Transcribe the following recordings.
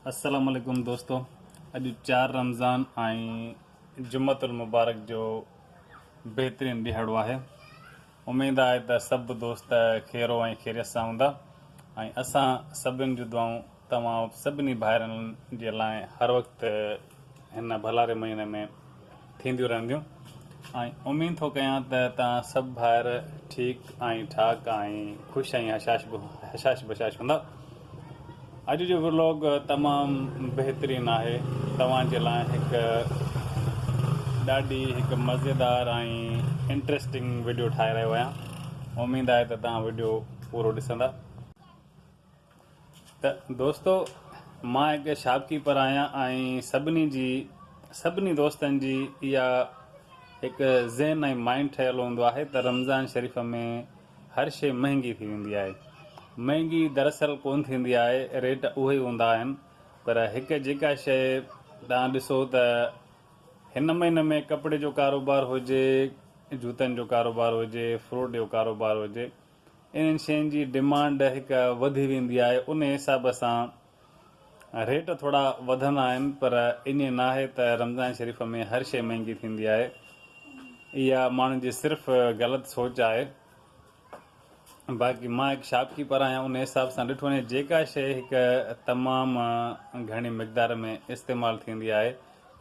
السلام عليڪم دوستو اڄ چار رمضان ۽ جمعت المبارڪ جو بهترين ڏيهاڙو آهي اميد آهي ته سڀ دوست خيرو ۽ خيريت سان هوندا ۽ اسان سڀن جو دعائون توهان سڀني ڀائرن جي لاء هر وقت هن ڀلاري مهيني ۾ ٿينديون رهنديون ۽ اميد ٿو ڪيان ته توهان سڀ ڀائر ٺيڪ ۽ ٺاڪ ۽ خوش ۽ هشاش بشاش هوندا. اڄ جو ورلاگ تمام بهترين آهي توهان جي لاء هڪ ڏاڍي هڪ مزيدار ۽ انٽريسٽنگ وڊيو ٺاهي رهيو آهيان اميد آهي ته توهان وڊيو پورو ڏسندا. ته دوستو مان هڪ شاپ ڪيپر آهيان ۽ سڀني جي سڀني دوستن جي اها هڪ ذهن ۽ مائنڊ ٺهيل هوندو آهي ته رمضان شريف ۾ هر شي مهنگي ٿي ويندي آهي مهنگي دراصل ڪون ٿيندي آهي ريٽ اهي ئي هوندا آهن پر هڪ جيڪا شيء تان ڏسو ته هن مهيني ۾ ڪپڙي جو ڪاروبار هجي جوتن جو ڪاروبار هجي فروٽ جو ڪاروبار هجي انهن شين جي ڊمانڊ هڪ وڌي ويندي آهي انهي حساب سان ريٽ ٿورا وڌندا آهن پر ائين ناهي ته رمضان شريف ۾ هر شي مهنگي ٿيندي آهي اها ماڻهن جي صرف غلط سوچ آهي باقي مان هڪ شاپ ڪيپر آهيان انهي حساب سان ڏٺو وڃي جيڪا شي هڪ تمام گهڻي مقدار ۾ استعمال ٿيندي آهي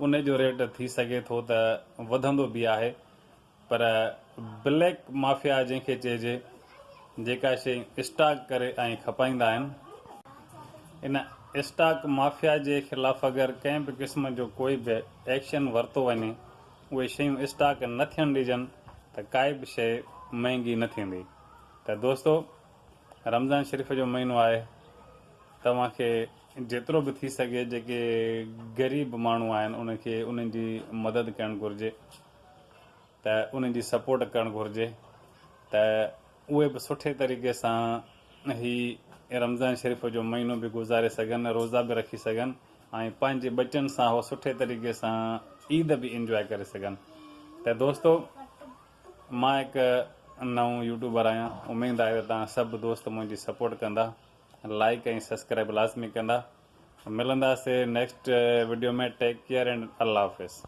انهي جو ريٽ ٿي سگهي ٿو ته وڌندو به آهي پر بليڪ مافيا جنهن کي چئجي جيڪا شئي اسٽاڪ ڪري ۽ کپائيندا آهن ان اسٽاڪ مافيا جي خلاف اگر ڪنهن به قسم جو ڪوئي به ايڪشن ورتو وڃي اهي شيون اسٽاڪ نه ٿيڻ ڏجن ته ڪائي به شئي مهنگي نه ٿيندي ته دوستو رمضان شريف جو مهينو آهي توهان کي جيترو به ٿي سگهي جيڪي غريب ماڻهو آهن ان کي انهن جي مدد ڪرڻ گهرجي ته انهن جي سپورٽ ڪرڻ گهرجي ته اهي به سٺي طريقي سان هي رمضان شريف جو مهينو به گذاري سگهن روزا به رکي سگهن ۽ پنهنجي ٻچن سان هو سٺي طريقي سان عيد به انجواء ڪري سگهن ته دوستو مان هڪ نئون يوٽيوبر آهيان اميد آهي ته تان سڀ دوست منهنجي سپورٽ ڪندا لائڪ ۽ سبسڪرائب لازمي ڪندا ملنداسي next video ۾ take care and الله حافظ